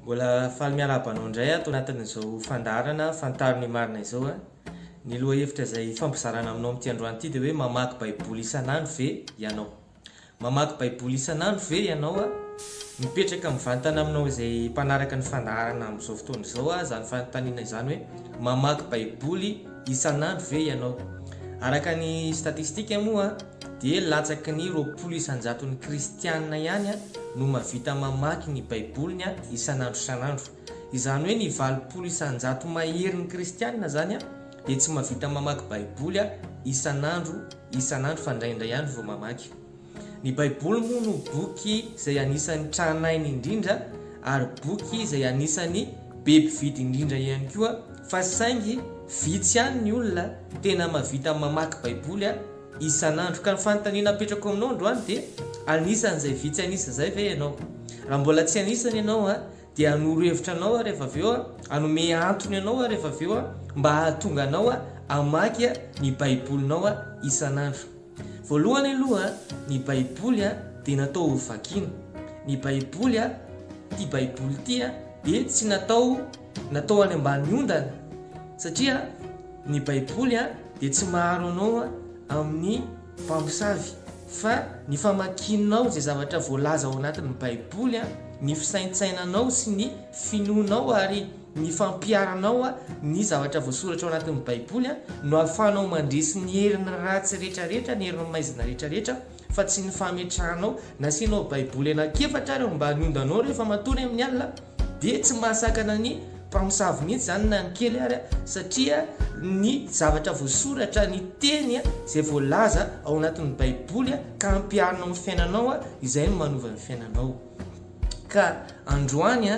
Mbola faly miarahaba anao indray ato anatin'izao fandaharana Fantaro ny marina izao a! Ny lohahevitra izay hifampizarana aminao amin'ity androany ity dia hoe mamaky baiboly isan'andro ve ianao? Mamaky baiboly isan'andro ve ianao a? Mipetraka mivantana aminao izay mpanaraka ny fandaharana amin'izao fotoana izao a! izany fanontaniana izany hoe mamaky baiboly isan'andro ve ianao? Araka ny statistika moa dia latsaky ny roapolo isan-jaton'ny Kristianina ihany no mahavita mamaky ny Baiboliny isan'andro isan'andro. Izany hoe ny valopolo isan-jato maherin'ny Kristianina izany dia tsy mahavita mamaky Baiboly isan'andro isan'andro fa indraindray ihany vao mamaky. Ny Baiboly moa no boky izay anisan'ny tranainy indrindra ary boky izay anisan'ny be mpividy indrindra ihany koa fa saingy vitsy ihany ny olona tena mahavita mamaky Baiboly Isan'andro. Ka ny fanontaniana apetrako aminao androany dia, anisan'izay vitsy an'isa izay ve ianao? Raha mbola tsy anisany ianao an, dia hanoro hevitra anao aho rehefa avy eo an, hanome antony anao aho rehefa avy eo an, mba hahatonga anao an hamaky an ny baibolinao an isan'andro. Voalohany aloha an, ny baiboly an dia natao ho vakiana. Ny baiboly an, ity baiboly ity an, dia tsy natao, natao any ambany ondana, satria, Ny Baiboly dia tsy maharo anao amin'ny mpamosavy, fa ny famakianao izay zavatra voalaza ao anatin'ny Baiboly, ny fisaintsainanao sy ny finoanao ary ny fampiharanao ny zavatra voasoratra ao anatin'ny Baiboly no ahafahanao mandresy ny herin'ny ratsy rehetrarehetra, ny herin'ny maizina rehetrarehetra. fa tsy ny fametrahanao nasianao baiboly anankiefatra ary mba ny ondanao rehefa matory amin'ny alina dia tsy mahasakana ny mpamosavy mihitsy izany na ny kely ary satria ny zavatra voasoratra ny teny izay voalaza ao anatin'ny baiboly ka ampiarinao amin'ny fiainanao izay no manova ny fiainanao ka androany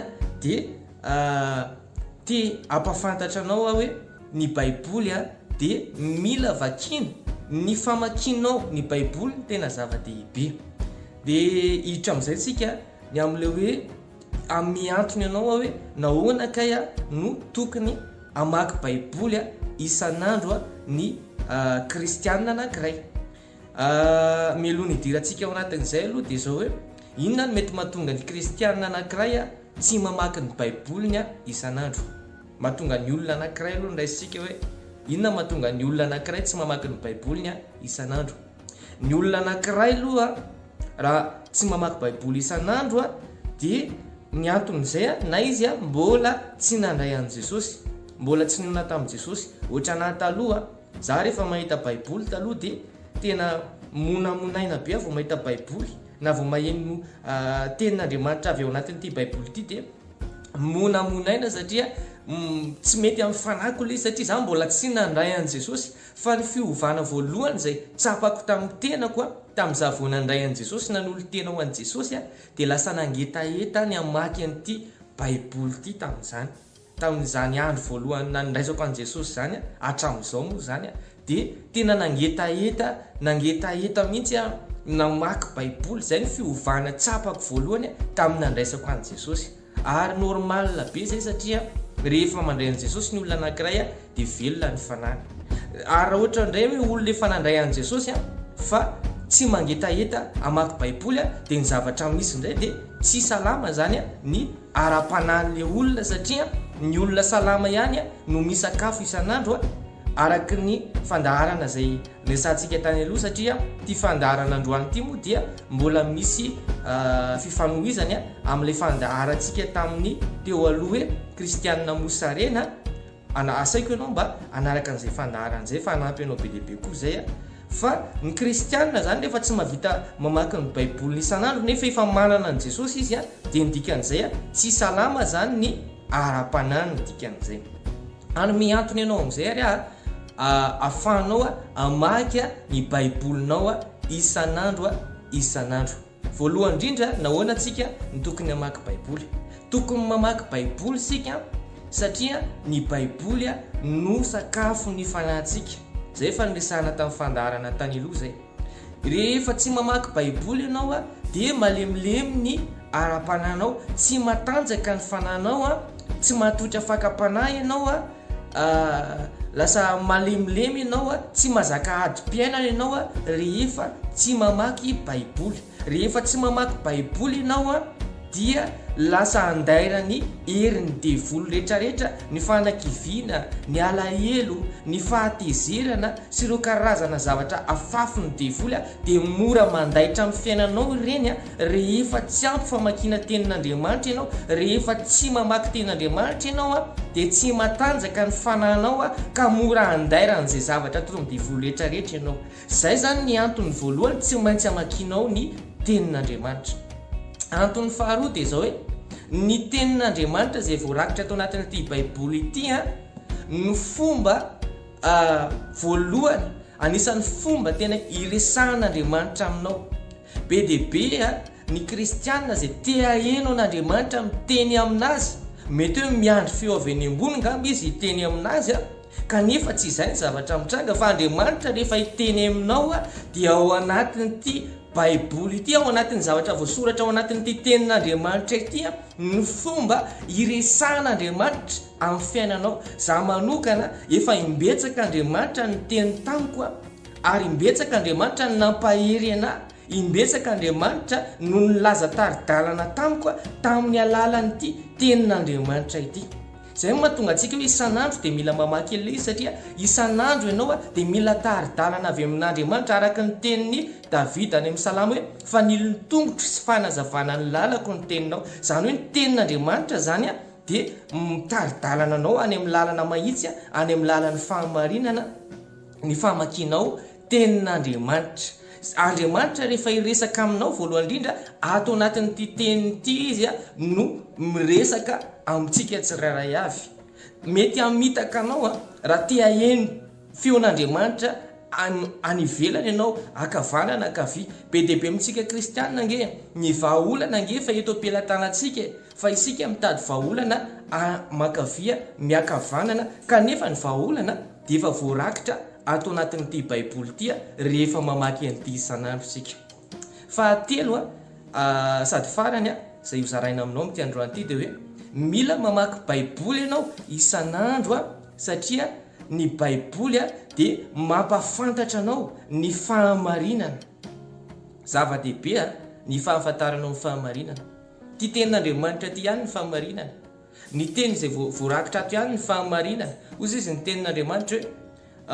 dia ah, Te hampafantatra anao aho hoe ny Baiboly dia mila vakiana. Ny famakianao ny Baiboly no tena zava-dehibe. Dia hiditra amin'izay isika ny amin'ilay hoe amin'ny antony anao aho hoe nahoana kay aho no tokony hamaky Baiboly isan'andro ny kristianina anankiray. Mialoha ny hidirantsika ao anatin'izay aloha dia izao hoe inona no mety mahatonga ny kristianina anankiray Tsy mamaky ny baiboliny aho isan'andro. Mahatonga ny olona anankiray aloha ny raisintsika hoe inona mahatonga ny olona anankiray tsy mamaky ny baiboliny aho isan'andro. Ny olona anankiray aloha raha tsy mamaky baiboly isan'andro aho dia ny anton'izay aho na izy aho mbola tsy nandray an'i Jesosy, mbola tsy nionona tamin'i Jesosy, ohatran'ahy taloha Za refa mahita baiboly taloha de tena monamonaina be vao mahita baiboly na vao maheno tenin'Andriamanitra avy ao anatin'ity baiboly ity de monamonaina satria tsy mety amin'ny fanahiko le izy satria za mbola tsy nandray an'i Jesosy fa ny fiovana voalohany zay tsapako tamin'ny tenako a tamin'iza vao nandray an'i Jesosy nanolo-tena ho an'i Jesosy a de lasa nangetaheta ny hamaky an'ity baiboly ity tamin'izany. Tamin'izany andro voalohany nandraisako an'i Jesosy izany hatramin'izao moa izany dia tena nangetaheta nangetaheta mihitsy aho namaky baiboly, izay ny fiovana tsapako voalohany tamin'ny nandraisako an'i Jesosy ary normal be izay satria rehefa mandray an'i Jesosy ny olona anankiray dia velona ny fanahiny ary raha ohatra indray hoe olona efa nandray an'i Jesosy fa tsy mangetaheta hamaky baiboly dia ny zavatra misy indray dia Tsy salama zany ny ara-panahin'ilay olona satria ny olona salama ihany no misakafo isan'andro araka ny fandaharana izay resahantsika tany aloha satria ity fandaharana androany ity moa dia mbola misy fifanohizany amin'ilay fandaharantsika tamin'ny teo aloha hoe Christiane Mosarena Ana asaiko ianao mba hanaraka an'izay fandaharana izay fa hanampy anao be dia be koa izay aho. Fa ny kristianina izany rehefa tsy mahavita mamaky ny baiboly isan'andro nefa efa manana an'i Jesosy izy a, dia ny dikan'izay a, tsy salama izany ny ara-panahy ny dikan'izay. Ary mihantona ianao amin'izay ary a, ahafahanao a, hamaky a, ny baibolinao a, isan'andro a, isan'andro. Voalohany indrindra, nahoana isika no tokony hamaky Baiboly? Tokony mamaky Baiboly isika satria ny Baiboly no sakafon'ny fanahintsika. Izay efa niresahana tamin'ny fandaharana tany aloha izay. Rehefa tsy mamaky Baiboly ianao dia malemilemy ny ara-panahinao, tsy matanjaka ny fanahinao, tsy matoky fakam-panahy ianao, Lasa malemilemy ianao, tsy mazaka adim-piainana ianao rehefa tsy mamaky baiboly. Rehefa tsy mamaky baiboly ianao dia lasa andairan'ny herin'ny devoly rehetrarehetra ny fanakiviana, ny alahelo, ny fahatezerana sy ireo karazana zavatra afafin'ny devoly. Dia mora mandaitra amin'ny fiainanao ireny rehefa tsy ampy famakiana tenin'Andriamanitra ianao, rehefa tsy mamaky tenin'Andriamanitra ianao dia tsy matanjaka ny fanahinao ka mora andairan'izay zavatra toy ny devoly rehetra rehetra ianao. Izay izany ny antony voalohany tsy maintsy hamakianao ny tenin'Andriamanitra. Antony faharoa dia izao hoe, ny tenin'Andriamanitra izay voarakitra ato anatin'ity baiboly ity no fomba A Voalohany, anisan'ny fomba tena iresahan'Andriamanitra aminao. Be dia be ny Kristianina izay te haheno an'Andriamanitra miteny amin'azy. Mety hoe miandry feo avy eny ambony angamba izy hiteny amin'azy, kanefa tsy izay ny zavatra mitranga, fa Andriamanitra rehefa hiteny aminao dia ao anatin'ity Baiboly ity, ao anatin'ny zavatra voasoratra ao anatin'ity Tenin'Andriamanitra ity no fomba iresahan'Andriamanitra. Amin'ny fiainanao. Za manokana efa imbetsaka Andriamanitra niteny tamiko a, ary imbetsaka Andriamanitra no nampahery anahy, imbetsaka Andriamanitra no nilaza tari-dalana tamiko a, tamin'ny alalan'ity tenin'Andriamanitra ity. Zay no mahatonga antsika hoe isan'andro dia mila mamaky an'ilay izy satria isan'andro ianao a dia mila tari-dalana avy amin'Andriamanitra araka ny tenin'i Davida any amin'ny salamo hoe fanilon'ny tongotro sy fanazavana ny lalako ny teninao. Zany hoe ny tenin'Andriamanitra zany a, Dia mitari-dalana anao any amin'ny lalana mahitsy, any amin'ny lalan'ny fahamarinana ny famakianao tenin'Andriamanitra. Andriamanitra rehefa hiresaka aminao voalohany indrindra ato anatin'ity teniny ity izy no miresaka amintsika tsirairay avy. Mety hamitaka anao raha te haheno feon'Andriamanitra any ivelany ianao, ankavanana na ankavia. Be dia be amintsika kristianina ange ny vahaolana ange efa eto am-pelatanantsika e! Fa isika mitady vahaolana amakavia miakavanana kanefa ny vahaolana dia efa voarakitra ato anatin'ity baiboly ity rehefa mamaky an'ity isan'andro isika. Fahatelo sady farany izay hozaraina aminao amin'ity androany ity dia hoe mila mamaky baiboly ianao isan'andro satria ny baiboly dia mampafantatra anao ny fahamarinana. Zava-dehibe ny fahafantaranao ny fahamarinana. Ty tenin'Andriamanitra ty ihany ny fahamarinana. Ny teny izay voarakitra ato ihany ny fahamarinana. Hozy izy ny tenin'Andriamanitra hoe,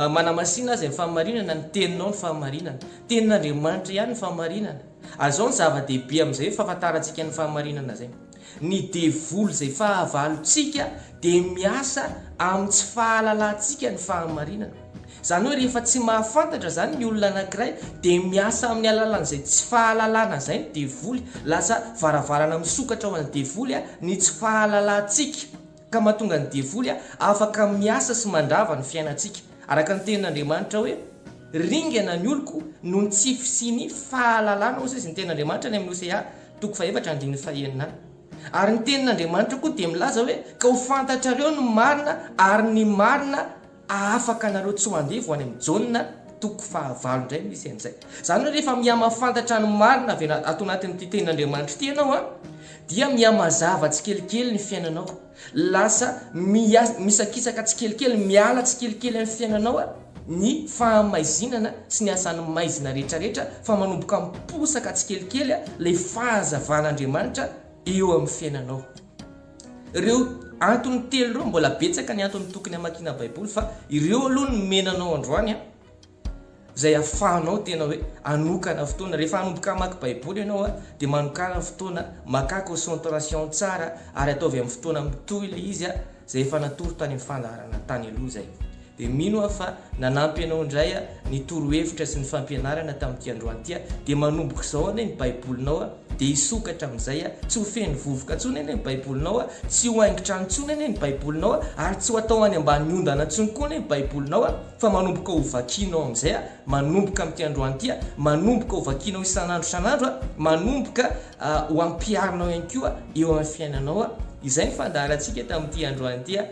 Manamasina azy ny fahamarinana, ny teninao ny fahamarinana. Tenin'Andriamanitra ihany ny fahamarinana. Ary izao ny zava-dehibe amin'izay fahafantarantsika ny fahamarinana izay. Ny devoly izay fahavalontsika dia miasa amin'ny tsy fahalalantsika ny fahamarinana. Izany hoe rehefa tsy mahafantatra izany ny olona anankiray dia miasa amin'ny alalan'izay tsy fahalalana izay ny devoly. Lasa varavarana misokatra ho an'ny devoly ny tsy fahalalantsika ka mahatonga ny devoly afaka miasa sy mandrava ny fiainantsika. Araka ny tenin'Andriamanitra hoe Ringana ny oloko noho ny tsy fisian'ny fahalalana hoy izy ny tenin'Andriamanitra any amin'ny Hosea toko fahefatra andininy fahenina. Ary ny tenin'Andriamanitra koa dia milaza hoe ka ho fantatrareo ny marina ary ny marina Afaka nareo tsy mandeha vao any am Jaona toko faha valo indray misy an'izay. Izany hoe rehefa miha mahafantatra ny marina avy ato anatin'ity tenin'Andriamanitra ity ianao an, dia miha mazava tsikelikely ny fiainanao, lasa miha misakisaka tsikelikely, miala tsikelikely amin'ny fiainanao ny fahamaizinana sy ny asan'ny maizina rehetra rehetra fa manomboka miposaka tsikelikely ilay fahazavan'Andriamanitra eo amin'ny fiainanao. Ireo antony telo ireo, mbola betsaka ny antony tokony hamakiana Baiboly fa ireo aloha no nomena anao androany an, izay ahafahanao tena hoe hanokana fotoana. Rehefa hanomboka hamaky Baiboly ianao an, dia manokana fotoana, makà concentration tsara ary ataovy amin'ny fotoana mitohy ilay izy an, izay efa natoro tany amin'ny fandaharana tany aloha izay. Dia mino aho fa nanampy anao indray ny torohevitra sy ny fampianarana tamin'ity androany ity, dia manomboka izao anie ny baibolinao dia hisokatra amin'izay, tsy ho feno vovoka intsony anie ny baibolinao, tsy ho haingon-trano intsony anie ny baibolinao, ary tsy ho atao any ambany ondana intsony koa anie ny baibolinao, fa manomboka ho vakianao amin'izay, manomboka amin'ity androany ity, manomboka ho vakianao isan'andro isan'andro, manomboka ho ampiharinao ihany koa eo amin'ny fiainanao, izay ny fandaharantsika tamin'ity androany ity.